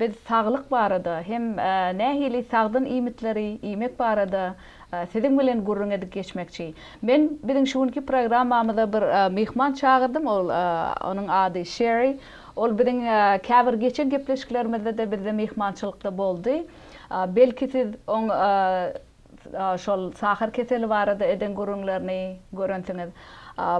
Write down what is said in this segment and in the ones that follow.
Biz saglyk barada hem nähili sagdyn iýmitleri iýmek barada siziň bilen gürrüň edip geçmekçi. Men biziň şu günki programmamyza bir myhman çagyrdym, ol onuň ady Şeri. Ol biziň käbir geçen gepleşiklerimizde-de bizde myhmançylykda boldy. Belki siz oň. şol sahar keseli barada eden gürrüňlerini görensiňiz.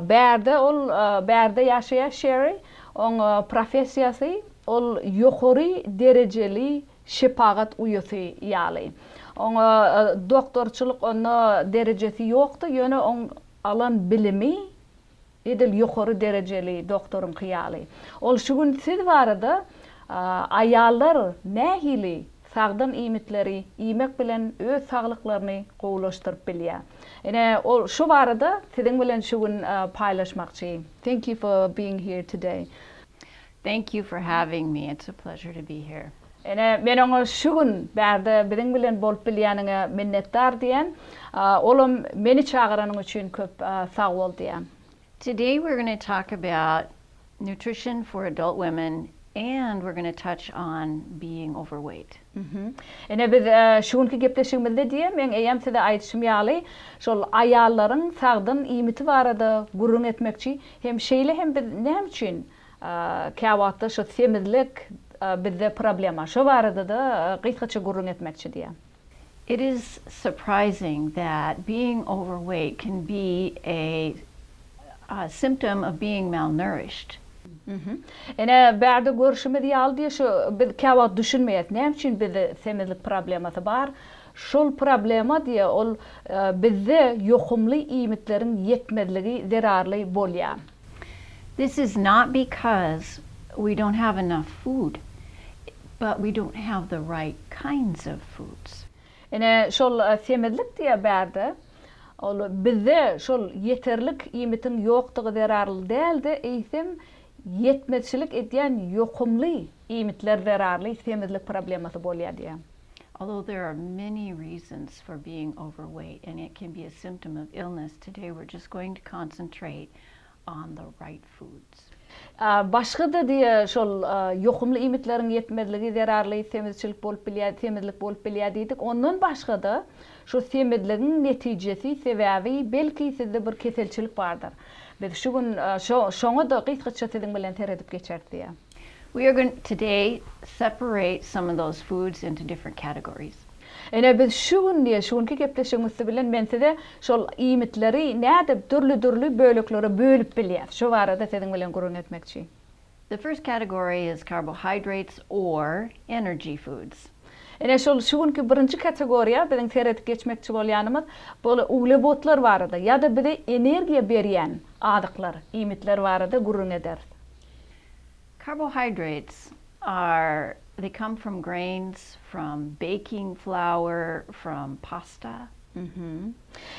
Bärde ol Bärde ýaşaýar Şeri, oň professiýasy ol ýokary derejeli şepagat uýasy ýaly. Oňa doktorçylyk onda derejesi ýokdy, ýöne oň alan bilimi Edil ýokary derejeli doktoryňky ýaly. Ol şu gün siz barada Aýallar nähili sagdyn iýmitleri iýmek bilen öz saglyklaryny gowulaşdyryp bilýär? Ine, ol şu barada siziň bilen şu gün paýlaşmakçy. Thank you for being here today. Thank you for having me, it's a pleasure to be here. Ene, men oňa şu gün bärde biziň bilen bolup bilýäniňe minnetdar diýen. Olam meni çagyranyň üçin köp sag bol diýen. Today we're gonna talk about nutrition for adult women and we're gonna touch on being overweight. Ene, biz şu günki gepleşigimizde diýen, meň eýýäm size aýdyşym ýaly, şol aýallaryň sagdyn iýmiti barada gürrüň etmekçi hem şeýle hem biz näme üçin Käwagtda şu semizlik bizde problema. Şo barada-da gysgaça gürrüň etmekçi diýýär. It is surprising that being overweight can be a symptom of being malnourished. Ine, bärde görşümiz ýaly diýýär, şu biz käwagt düşünmeýäris, näme üçin bizde semizlik problemasy bar? Şol problema diýýär, ol bizde ýokumly iýmitleriň ýetmezligi zerarly bolýar. This is not because we don't have enough food, but we don't have the right kinds of foods. Ine, şol semizlik diýýär bärde. Ol bizde şol ýeterlik iýmitiň ýokdugy zerarly däl-de, eýsem, ýetmezçilik edýän ýokumly iýmitler zerarly semizlik problemasy bolýar diýýär. Although there are many reasons for being overweight and it can be a symptom of illness, today we're just going to concentrate on the right foods. Başga-da diýe şol ýokumly iýmitleriň ýetmezligi zerarly semizçilik bolup bilýär, semizlik bolup bilýär diýdik. Ondan başga-da şu semizligiň netijesi, sebäbi belki sizde bir keselçilik bardyr. Biz şu gün şo-şoňa-da gysgaça siziň bilen seredip geçeris diýýär. We are going today separate some of those foods into different categories. Ine biz şu gün diýe şu günki gepleşigimiz siz bilen men size şol iýmitleri nädip dürli dürli böleklere bölüp bilýäs şu barada siziň bilen gürrüň etmekçi. The first category is carbohydrates or energy foods. Ine şol şu günki birinji kategoriýa biziň seredip geçmekçi bolýanymyz bol uglewodlar barada ýa-da bize energiýa berýän azyklar iýmitler barada gürrüň ederis. Carbohydrates are they come from grains, from baking flour, from pasta.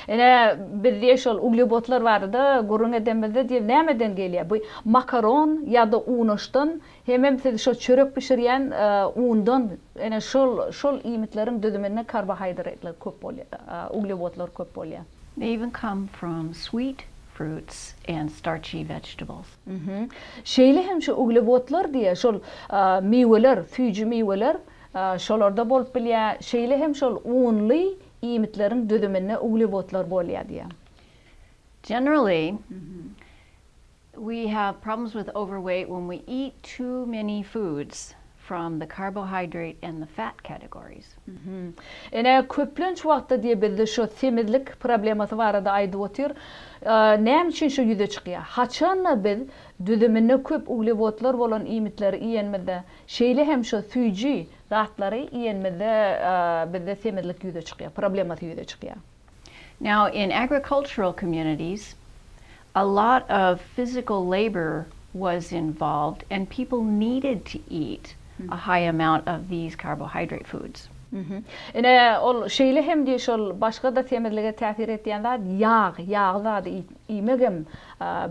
Ine biz diýe şol uglewodlar barada gürrüň edemizde diýe nämeden gelýär bu makaron ýa-da unaşdan hemem siz şo çörek bişirýän undan ine şol şol iýmitleriň düzüminde karbohaýdratlar köp bolýar uglewodlar köp bolýar. They even come from sweet fruits and starchy vegetables. Şeýle hem şu uglewodlar diýe şol miweler, süýji miweler şolarda bolup bilýär, şeýle hem şol unly iýmitleriň düzüminde uglewodlar bolýar diýe. Generally we have problems with overweight when we eat too many foods From the carbohydrate and the fat categories. Ene köplenç wagtda diýe bizde şo semizlik problemasy barada aýdyp otyr. Näme üçin şo ýüze çykýa? Haçanda biz düzüminde köp uglewodlar bolan iýmitleri iýenimizde, şeýle hem şo süýji zatlary iýenimizde bizde semizlik ýüze çykýa, problemasy ýüze çykýa. Now in agricultural communities a lot of physical labour was involved and people needed to eat a high amount of these carbohydrate foods. Ine ol şeýle hem diýýär şol başga-da semizlige täsir etýän zat ýag, ýagly zady iýmegem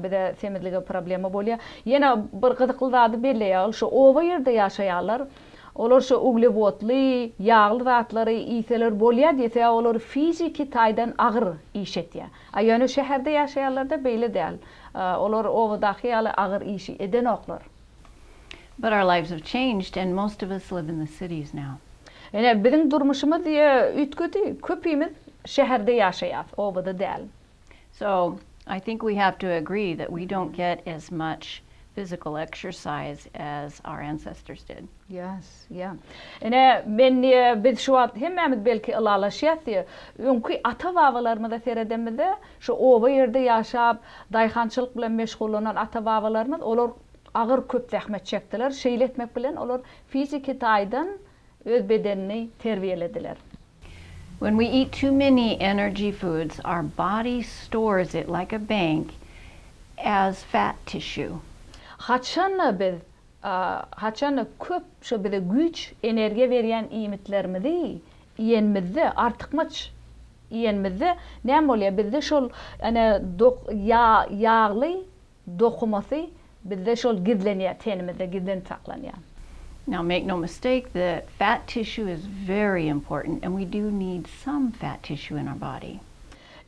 bize semizlige problema bolýar. Ýene bir gyzykly zady belleýär ol şu oba ýerde ýaşaýanlar Olar şo uglewodly, ýagly zatlary iýseler bolýar diýse, olar fiziki taýdan agyr iş etýär. A ýöne şäherde ýaşaýanlarda beýle däl. Olar obadaky ýaly agyr işi edenoklar. But our lives have changed and most of us live in the cities now. Ine, biziň durmuşymyz üýtgedi. Köpimiz şäherde ýaşaýarys, obada däl. So, I think we have to agree that we don't get as much physical exercise as our ancestors did. Yes, yeah. Ine, men diýe, biz şu wagt hemmämiz belki ylalaşýas diýe, öňki ata-babalarymyza seredemizde, şu oba ýerde ýaşap, daýhançylyk bilen meşgullanan ata-babalarymyz, olar agyr köp zähmet çekdiler. Şeýle etmek bilen olar fiziki taýdan öz bedenini terbiýelediler. When we eat too many energy foods, our body stores it like a bank as fat tissue. Haçan-da biz haçan-da köp şo bize güýç, energiýa berýän iýmitlerimizi iýenimizde, artykmaç iýenimizde näme bolýar? Bizde şol ýa ýagly dokumasy bizde şol gizlenýär tenimizde gizlenip saklanýar. Now make no mistake the fat tissue is very important and we do need some fat tissue in our body.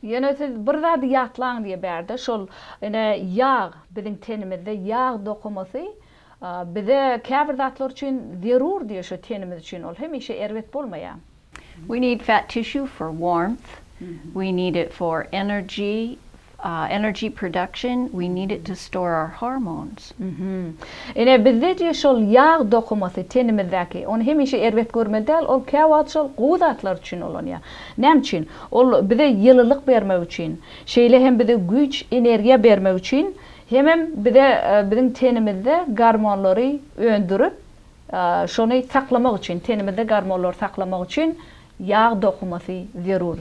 Ýöne siz bir zady ýatlaň diýe bärde şol ine ýag biziň tenimizde ýag dokumasy bize käbir zatlar üçin zerur diýe şu tenimiz üçin ol hemişe erbet bolmaýar. We need fat tissue for warmth, we need it for energy, energy production, we need it to store our hormones. Ine, bizde diýe şol ýag dokumasy tenimizdäki, ony hemişe erbet görmeli däl, ol käwagt şol gowy zatlar üçin ulanýar. Näme üçin? Ol bize ýylylyk bermek üçin, şeýle hem bize güýç, energiýa bermek üçin, hemem bize biziň tenimizde gormonlary öndürip, Şony saklamak üçin, tenimizde gormonlary saklamak üçin ýag dokumasy zerur.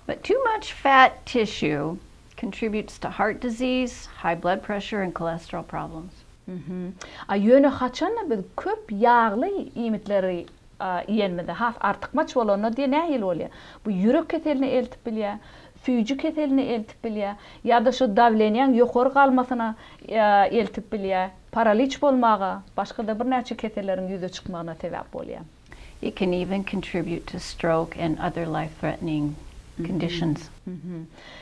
But too much fat tissue contributes to heart disease, high blood pressure and cholesterol problems. A ýöne haçanda biz köp ýagly iýmitleri iýenimizde, has artykmaç bolanda diýe nähili bolýar? Bu ýürek keseline eltip bilýär, süýji keseline eltip bilýär ýa-da şu dawleniýaň ýokary galmasyna eltip bilýär. Paraliç bolmaga, başga-da birnäçe keselleriň ýüze çykmagyna sebäp bolýar. It can even contribute to stroke and other life-threatening conditions.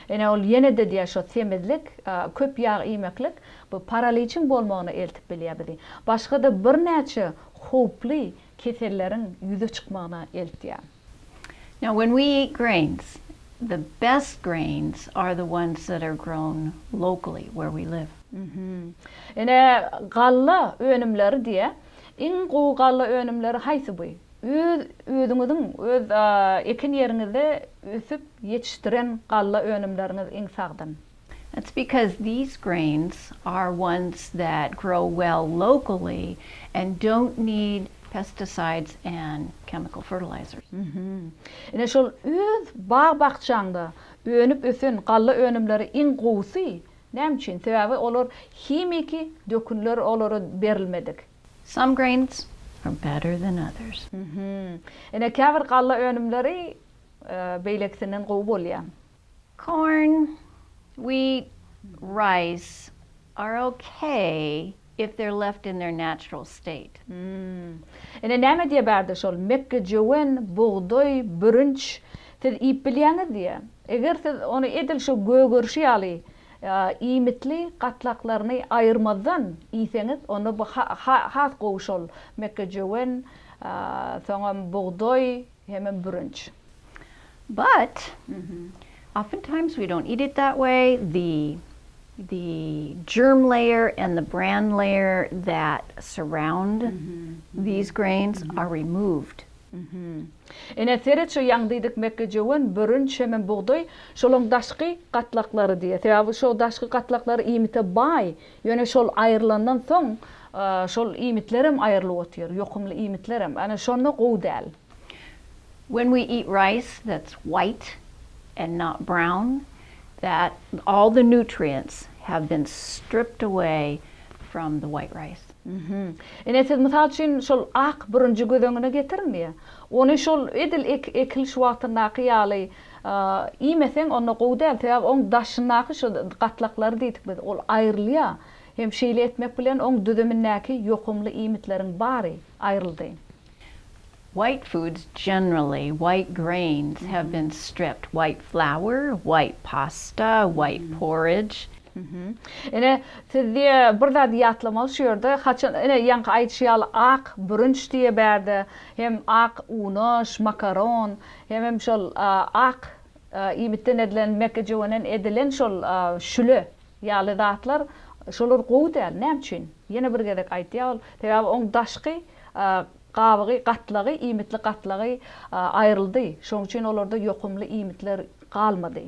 Ine, ol ýene-de diýýär, şo semizlik, köp ýag iýmeklik bu paraliçiň bolmagyna eltip bilýär bizi. Başga-da birnäçe howply keselleriň ýüze çykmagyna eltýär. Now when we eat grains, the best grains are the ones that are grown locally where we live. Ine, galla önümleri diýýär. Iň gowy galla önümleri haýsy bu? Öz özüňiziň öz ekin ýeriňizde ösüp ýetişdiren galla önümleriňiz iň sagdyn. That's because these grains are ones that grow well locally and don't need pesticides and chemical fertilizers. Ine şol öz bag-bakjaňda önüp ösen galla önümleri iň gowusy. Näme üçin? Sebäbi olar himiki dökünler olara berilmedik. Some grains are better than others. Ine käbir galla önümleri beýlekisinden gowy bolýar. Corn, wheat, rice are okay if they're left in their natural state. Hmmm. Ine näme diýýär bärde şol, mekgejöwen, bugdaý, bürünç, siz iýip bilýäňiz diýýär. Eger siz ony edil şu gögerişi ýaly iýmitli gatlaklaryny aýyrmazdan iýseňiz, onda bu has gowy şol mekgejöwen, soňam bugdaý, Hemem bürünç. But, oftentimes we don't eat it that way, the the germ layer and the bran layer that surround these grains are removed. Ine, seret şu ýaňdiýdik mekgejöwen, bürünç hemem bugdaý, şolaň daşky gatlaklary diýýär. Sebäbi şo daşky gatlaklary iýmite baý, Ýöne şol aýrylandan soň şol iýmitlerem aýrylyp otyr, ýokumly iýmitlerem. Ana şonda gowy däl. When we eat rice that's white and not brown that all the nutrients have been stripped away from the white rice. Ine siz mysal üçin şol ak bürünji göz öňüne getiriň diýýär. Ony şol edil ekiliş wagtyndaky ýaly Iýmeseň onda gowy däl, sebäbi oň daşyndaky şu gatlaklary diýdik biz, ol aýrylýar. Hem şeýle etmek bilen oň düzümindäki ýokumly iýmitleriň bary aýryldy. White foods generally, white grains have been stripped, white flour, white pasta, white porridge. Ine, siz diýe bir zady ýatlamaly şu ýerde, haçan ine ýaňky aýdyşy ýaly ak bürünç diýe bärde hem ak unaş, makaron, Hemem şol ak iýmitden edilen, mekgejöwenden edilen şol şüle ýaly zatlar, şolar gowy däl. Näme üçin? Ýene bir gezek aýtýar ol, sebäbi oň daşky gabygy, gatlagy, iýmitli gatlagy aýryldy. Şonuň üçin olarda ýokumly iýmitler galmady.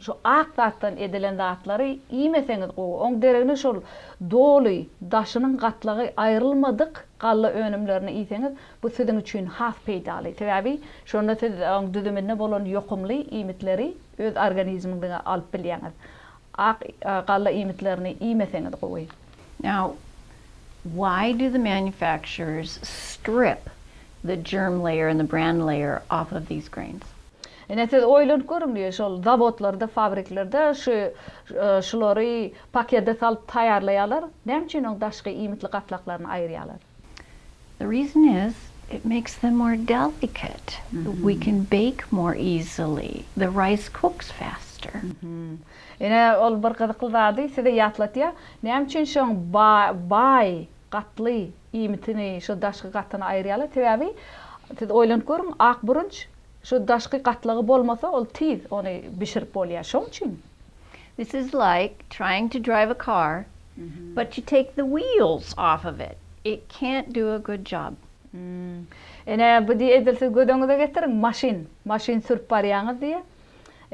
Şu ak zatdan edilen zatlary iýmeseňiz gowy. Oň deregine şol doly daşynyň gatlagy aýrylmadyk galla önümlerini iýseňiz, bu siziň üçin has peýdaly. Sebäbi şonda siz oň düzüminde bolan ýokumly iýmitleri öz organizmiňize alyp bilýäňiz. Ak galla iýmitlerini iýmeseňiz gowy. Now, why do the manufacturers strip the germ layer and the bran layer off of these grains? Ine siz oýlanyp görüň diýip şol zawodlarda fabriklerde şu şulary pakede salyp taýýarlaýarlar, näme üçin oň daşky iýmitli gatlaklaryny aýyrýarlar? The reason is it makes them more delicate, we can bake more easily, the rice cooks faster. Ine ol bir gyzykly zady size ýatlatýar, näme üçin şoň baý gatly iýmitini şu daşky gatyny aýyrýarlar, sebäbi siz oýlanyp görüň ak burunç Şu daşky gatlagy bolmasa ol tiz ony bişirip bolýar şoň üçin. This is like trying to drive a car but you take the wheels off of it it can't do a good job. Ine bu diýe edil siz gözeňize getiriň maşyn maşyn sürüp barýaňyz diýe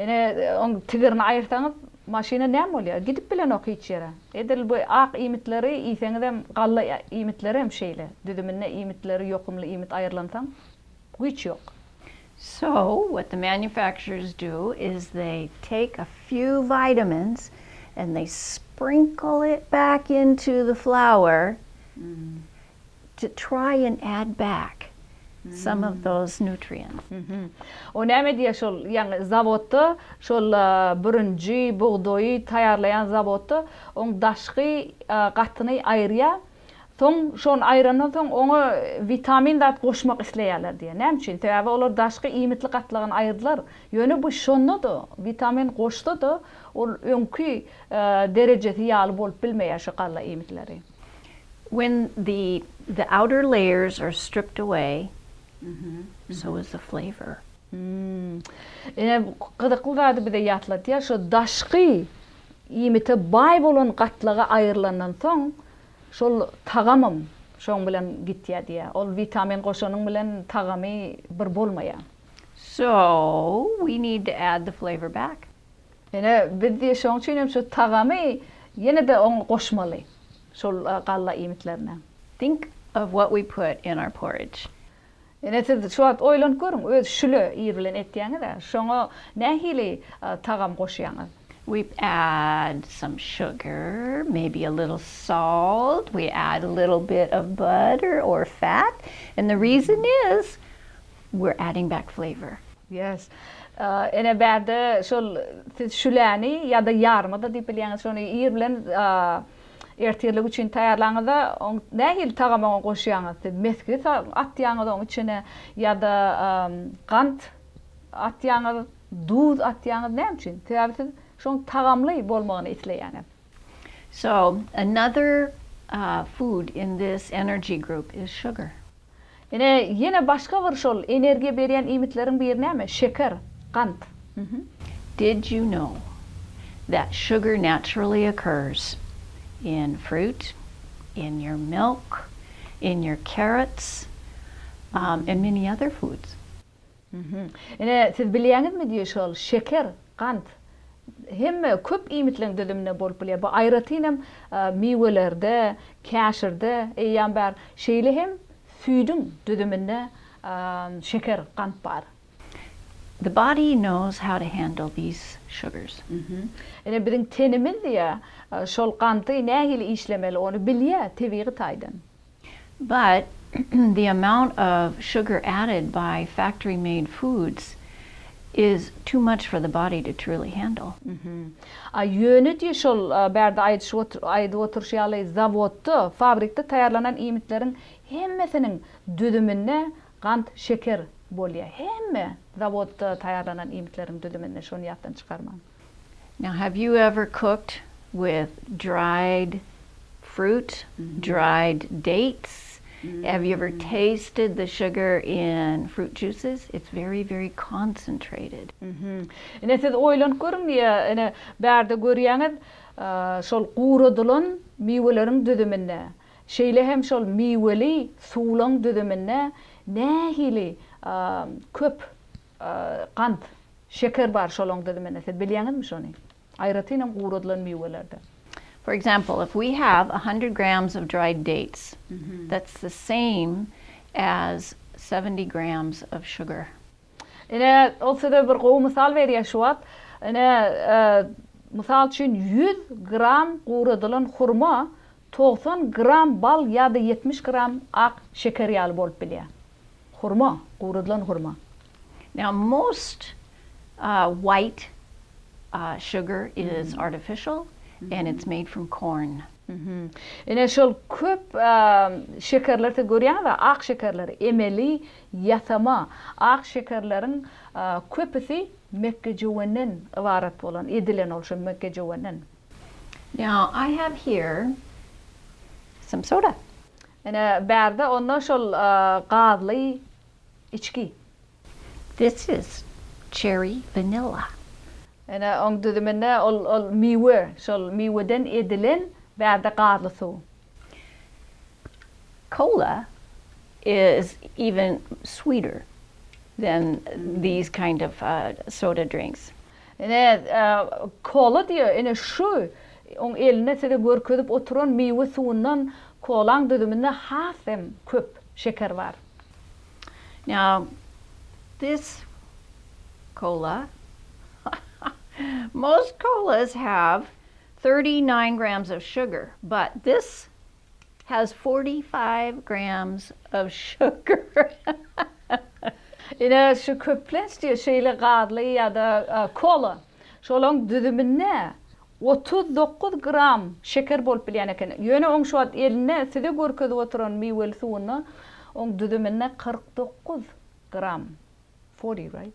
ine oň tigirini aýyrsaňyz maşyna näme bolýar gidip bilenok hiç ýere edil bu ak iýmitleri iýseňizem galla iýmitleri hem şeýle düzüminde iýmitleri ýokumly iýmit aýyrlansaň Güýç ýok. So, what the manufacturers do is they take a few vitamins and they sprinkle it back into the flour to try and add back some of those nutrients. O näme edýär şol, ýagny zawodda, şol bürünji, bugdaýy taýýarlaýan zawodda oň daşky gatyny aýyrýar, Soň şony aýrandan soň oňa witamin zat goşmak isleýärler diýýär. Näme üçin? Sebäbi olar daşky iýmitli gatlagyny aýyrdylar. Ýöne bu şonda-da, witamin goşsa-da, ol öňki derejesi ýaly bolup bilmeýär şu galla iýmitleri. When the the outer layers are stripped away, so is the flavor. Hmmm. Ine gyzykly zady bize ýatlatýar, şo daşky iýmite baý bolan gatlagy aýrylandan soň şol tagamam şoň bilen gitýär diýýär. Ol witamin goşanyň bilen tagamy bir bolmaýar. So, we need to add the flavor back. Ine biz diýe şoň üçin hem şu tagamy ýene-de oňa goşmaly şol galla iýmitlerine. Think of what we put in our porridge. Ine siz şu wagt oýlanyp görüň, öz şüle ir bilen etýäňiz-ä, şoňa nähili tagam goşýaňyz? We add some sugar, maybe a little salt, we add a little bit of butter or fat and the reason is we're adding back flavor. Yes. Ine bärde şol siz şüläni ýa-da ýarma-da diýip bilýäňiz, şony ir bilen Ertirlik üçin taýýarlaňyzda oň nähili tagamy oňa goşýaňyz? Siz mesgi atýaňyz oň içine ýa-da gant atýaňyz, duz atýaňyz näme üçin? Sebäbi siz şoň tagamly bolmagyny isleýäňiz. So, another food in this energy group is sugar. Ine, ýene başga bir şol energiýa berýän iýmitleriň biri näme? Şeker, gant. Did you know that sugar naturally occurs in fruit, in your milk, in your carrots, and many other foods? Ine, siz bilýäňizmi diýip şol şeker, gant hemme köp iýmitleriň düzüminde bolup bilýär. Bu aýratyn hem miwelerde, käşirde eýýäm bar. Şeýle hem süýdüň düzüminde şeker, gant bar. The body knows how to handle these sugars. Ine, biziň tenimiz diýýär, şol ganty nähili işlemeli, ony bilýär tebigy taýdan. But, the amount of sugar added by factory made foods is too much for the body to truly handle. A ýöne diýe şol bärde aýdyp oturyşy ýaly zawodda, fabrikde taýýarlanan iýmitleriň hemmesiniň düzüminde gant, şeker, bolýar. Hemme zawodda taýýarlanan iýmitleriň düzüminde, şony ýatdan çykarmaň. Now have you ever cooked with dried fruit, dried dates? Have you ever tasted the sugar in fruit juices? It's very very concentrated. Ine siz oýlanyp görüň diýýär, ine bärde görýäňiz şol guradylan miweleriň düzüminde, şeýle hem şol miweli suwlaň düzüminde nähili köp Gant, şeker bar şolaň düzüminde, siz bilýäňizmi şony? Aýratyn hem guradylan miwelerde. For example, if we have a hundred grams of dried dates, that's the same as seventy grams of sugar. Ine, ol size bir gowy mysal berýär şu wagt. Ine, mysal üçin, ýüz gram guradylan hurma togsan gram bal ýa-da ýetmiş gram ak şeker ýaly bolup bilýär. Hurma, guradylan hurma. Now most white sugar is artificial and it's made from corn. Ine şol köp şekerler siz görýäňizmi ak şekerleri emeli ýasama ak şekerleriň köpüsi mekgejöwenden ybarat bolan edilen ol şu mekgejöwenden. Now I have here some soda. Ine, bärde onda şol gazly içgi. This is cherry vanilla. Ine, oň düzüminde ol, ol miwe, şol miweden edilen bärde gazly suw. Cola is even sweeter than these kind of soda drinks. Ine, kola diýýär. Ine, şu oň elinde size görkezip oturan miwe suwundan kolaň düzüminde has hem köp şeker bar. Now, this kola, most kolas have thirty nine grams of sugar, but this has forty five grams of sugar Ine şu köplenç diýe şeýle gazly ýa-da kola şolaň düzüminde otuz dokuz gram şeker bolup bilýän eken. Ýöne oň şu wagt elinde size görkezip oturan miweli suwunda oň düzüminde kyrk dokuz gram forty right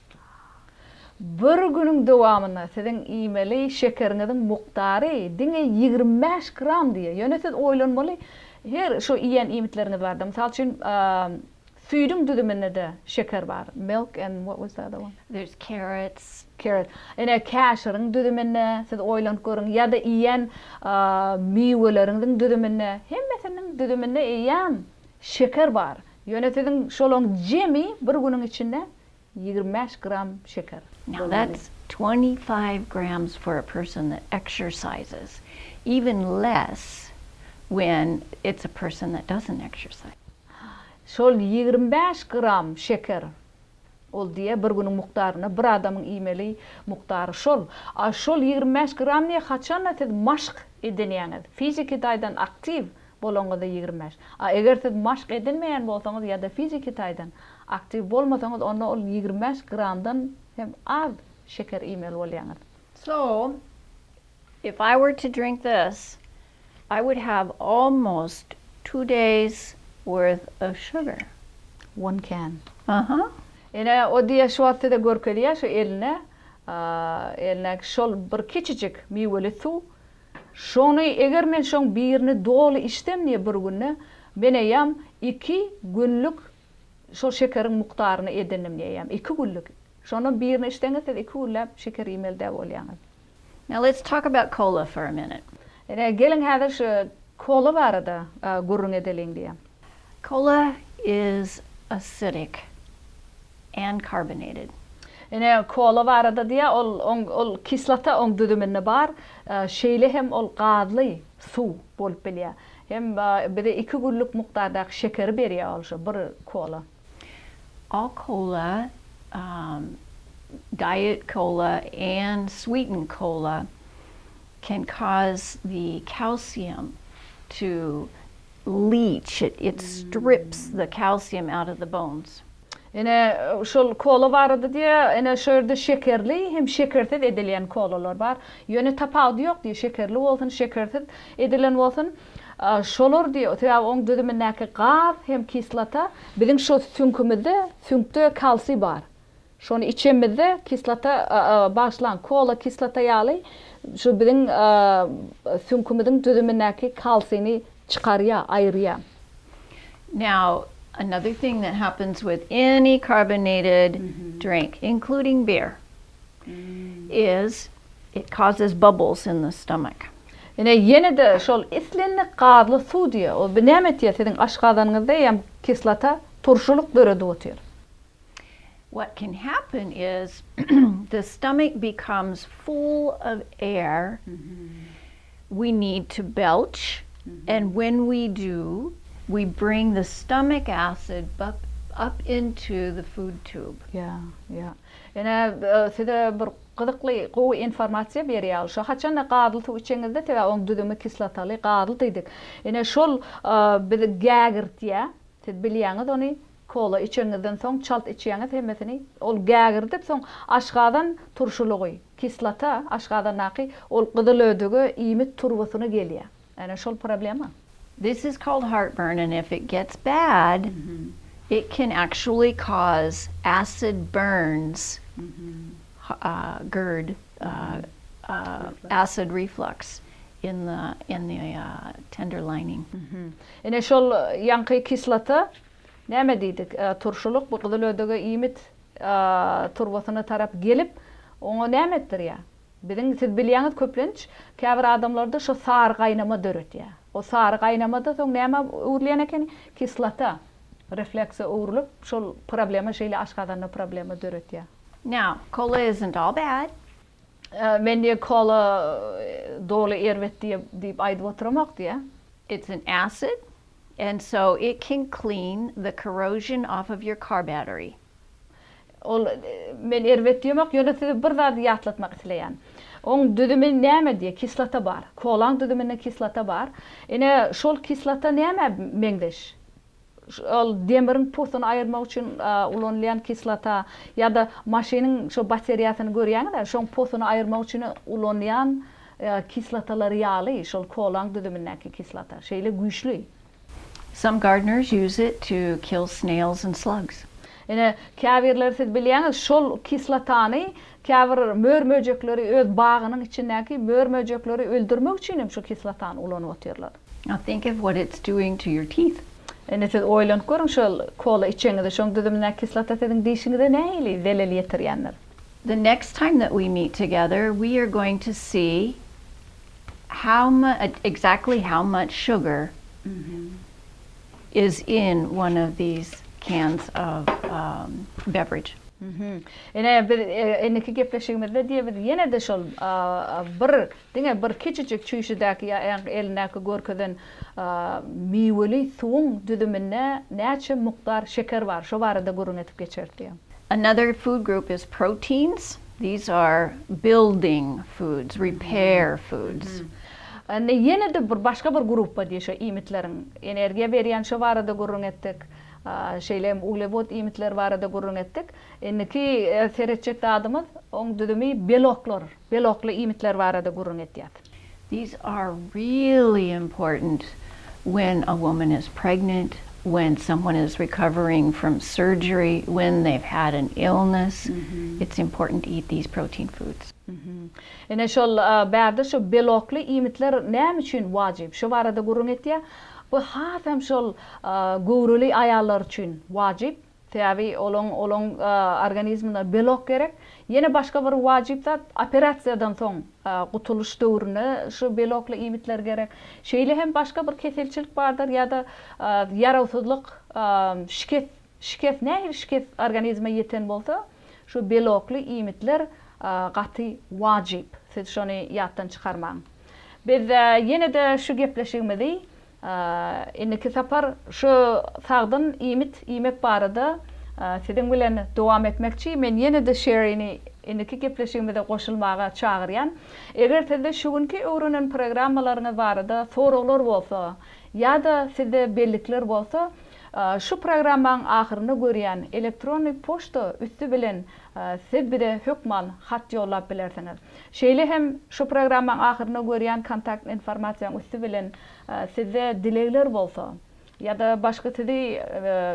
Bir günüň dowamynda siziň iýmeli şekeriňiziň mukdary diňe ýigrimi bäş gram diýýär. Ýöne siz oýlanmaly, her şu iýen iýmitleriňiz barada, mysal üçin, süýdüň düzüminde-de şeker bar, milk and what was the other one? There's carrots. Carrot. Ine, käşiriň düzüminde, siz oýlanyp görüň, ýa-da iýen miweleriňiziň düzüminde, hemmesiniň düzüminde eýýäm şeker bar. Ýöne siziň şolaryň jemi bir günüň içinde ýigrimi bäş gram şeker. Now that's twenty five grams for a person that exercises, even less when it's a person that doesn't exercise. Şol ýigrimi bäş gram şeker, ol diýýär bir günüň mukdaryna bir adamyň iýmeli mukdary şol. A şol ýigrimi bäş gram diýýär haçanda siz maşk edinýäňiz, fiziki taýdan aktiw Bolaňyzda ýigrimi bäş. A eger siz maşk edinmeýän bolsaňyz ýa-da fiziki taýdan aktiw bolmasaňyz, onda ol ýigrimi bäş gramdan hem az şeker iýmeli bolýaňyz. So, if I were to drink this, I would have almost two days worth of sugar. One can. Aha. Ine, o diýýär, şu wagt size görkezýär, şu eline, eline şol bir kiçijik miweli suw Şony eger men şoň birini doly içsem diýe bir günde men eýýäm iki günlük şol şekeriň mukdaryny edindim diýýäm. Iki günlük. Şondan birini içseňiz siz iki günläp şeker iýmeli däl bolýaňyz. Now let's talk about kola for a minute. Ine geliň häzir şu kola barada gürrüň edeliň diýýäm. Kola is acidic. and carbonated. Ine, kola barada diýýär, ol, oň, ol kislota oň düzüminde bar, şeýle hem ol gazly suw bolup bilýär. Hem bize iki günlük mukdardaky şekeri berýär ol şu bir kola. All kola, diet kola and sweetened kola can cause the calcium to leach, it strips the calcium out of the bones. Ine, şol kola barada diýýä, ine, şu ýerde şekerli hem şekersiz edilýän kolalar bar. Ýöne tapawudy ýok diýýä, şekerli bolsun, şekersiz edilen bolsun, şolar diýýä, sebäbi oň düzümindäki gaz hem kislota biziň şu süňkümizde, süňkde kalsiý bar. Şony içemizde kislota, bagyşlaň, kola kislota ýaly şu biziň süňkümiziň düzümindäki kalsini çykarýa, aýyrýa. Now, another thing that happens with any carbonated drink, including beer, is it causes bubbles in the stomach. Ine, ýene-de şol islendik gazly suw diýýä, ol bir näme etýä, siziň aşgazanyňyzda hem kislota, turşulyk döredip otyr. What can happen is the stomach becomes full of air, we need to belch, and when we do, we bring the stomach acid up into the food tube. Ýa, ýa. Ine, size bir gyzykly, gowy informasiýa berýär. Şo haçanda gazly suw içeňizde, sebäbi onuň düzümi kislotaly, gazly diýdik. Ine, şol bizi gägirtýär. Siz bilýäňiz ony. Kola içeňizden soň çalt içýäňiz hemmesini. Ol gägirdip soň aşgazan turşulygy, kislota aşgazandaky ol gyzyl ödege iýmit turbasyna gelýär. Ene şol problema. This is called heartburn and if it gets bad it can actually cause acid burns, gerd, acid reflux in the in the tender lining. Ene şol ýaňky kislota Näme diýdik, turşulyk bu gyzyl ödege iýmit turbasyna tarap gelip, oňa näme etdirýär? Biziň, siz bilýäňiz, köplenç käbir adamlarda şo sary gaýnama döretýär. O sary gaýnama-da soň nämä öwrülýän ekeni? Kislota reflekse öwrülip, şol problema, şeýle aşgazanda problema döretýär. Now, cola isn't all bad. Men diýe kola doly erbet diýe diýip aýdyp oturamok diýe. It's an acid and so it can clean the corrosion off of your car battery. Ol men erbet diýemok ýöne size bir zady ýatlatmak isleýän. Oň düzümi näme diýe kislota bar. Kolaň düzüminde kislota bar. Ine şol kislota nämä meňzeş? Ol demiriň pusuny aýyrmak üçin ulanylýan kislota ýa-da maşynyň şo bateriýasyny görýäňiz-ä, şoň pusuny aýyrmak üçin ulanýan kislotalary ýaly, şol kolaň düzümindäki kislota. Şeýle güýçli. Some gardeners use it to kill snails and slugs. Ine, käbirleri siz bilýäňiz, şol kislotany käbir mör-möjekleri öz bagynyň içindäki mör-möjekleri öldürmek üçin hem şu kislotany ulanyp otyrlar. Now think of what it's doing to your teeth. Indi siz oýlanyp görüň şol kola içeňizde şoň düzümindäki kislota siziň dişiňize nähili zelel ýetirýändir. The next time that we meet together we are going to see how mu exactly how much sugar is in one of these cans of beverage. Ine biz indiki gepleşigimizde diýe biz ýene-de şol bir Diňe bir kiçijik çüýşüdäki ýa ýa-da elindäki görkezen miweli suwuň düzüminde näçe mukdar şeker bar, şo barada gürrüň edip geçeris diýýär. Another food group is proteins. These are building foods, repair foods. Indi ýene-de bir başga bir gruppa diýýär şo iýmitleriň energiýa berýän, şo barada gürrüň etdik. Şeýle hem uglewod iýmitleri barada gürrüň etdik. Indiki seretjek zadymyz, oň düzümi beloklar. Belokly iýmitler barada gürrüň edýär. These are really important when a woman is pregnant, when someone is recovering from surgery, when they've had an illness, it's important to eat these protein foods. Ine şol bärde şu belokly iýmitler näme üçin wajyp? Şo barada gürrüň etýär. Bu has hem şol göwreli aýallar üçin wajyp. Sebäbi olaň olaň organizmine belok gerek. Ýene başga bir wajyp zat, operasiýadan soň, gutulyş döwründe şu belokly iýmitler gerek. Şeýle hem başga bir keselçilik bardyr ýa-da ýarawsyzlyk, şikes, şikes, nähili şikes organizme ýeten bolsa, şu belokly iýmitler gaty wajyp. Siz şony ýatdan çykarmaň. Biz ýene-de şu gepleşigimizi Indiki sapar şu sagdyn iýmit iýmek barada siziň bilen dowam etmekçi. Men ýene-de Şerini indiki gepleşigimize goşulmaga çagyrýan. Eger sizde şu günki öwrenen programmalaryňyz barada soraglar bolsa ýa-da sizde bellikler bolsa, şu programmaň ahyrynda görýän elektronnyý poçta üsti bilen siz bize hökman hat ýollap bilersiňiz. Şeýle hem şu programmaň ahyrynda görýän kontakt informasiýaň üsti bilen sizde dilegler bolsa ýa-da başga sizi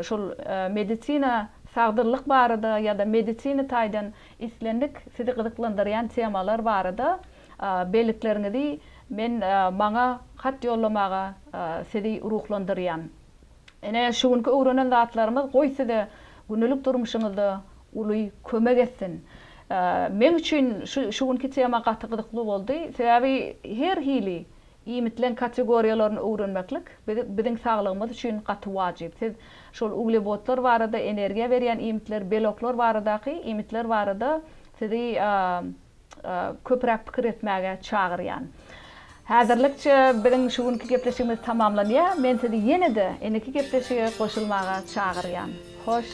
şol medisina, sagdynlyk barada ýa-da medisina taýdan islendik sizi gyzyklandyrýan temalar barada bellikleriňizi men maňa hat ýollamaga sizi ruhlandyrýan. Ine, şu günki öwrenen zatlarymyz goý size gündelik durmuşyňyzda uly kömek etsin. Meň üçin şu günki tema gaty gyzykly boldy. Sebäbi her hili iýmitleň kategoriýalaryny öwrenmeklik biziň saglygymyz üçin gaty wajyp. Siz şol uglewodlar barada, energiýa berýän iýmitler, beloklar baradaky iýmitler barada sizi köpräk pikir etmäge çagyrýan. Häzirlikçe biziň şu günki gepleşigimiz tamamlanýar. Men sizi ýene-de indiki gepleşige goşulmaga çagyrýan. Hoş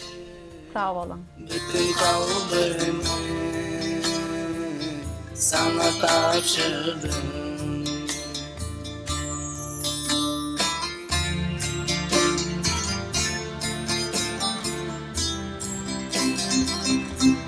sag boluň. Bütin kalbymy saňa tabşyrdym.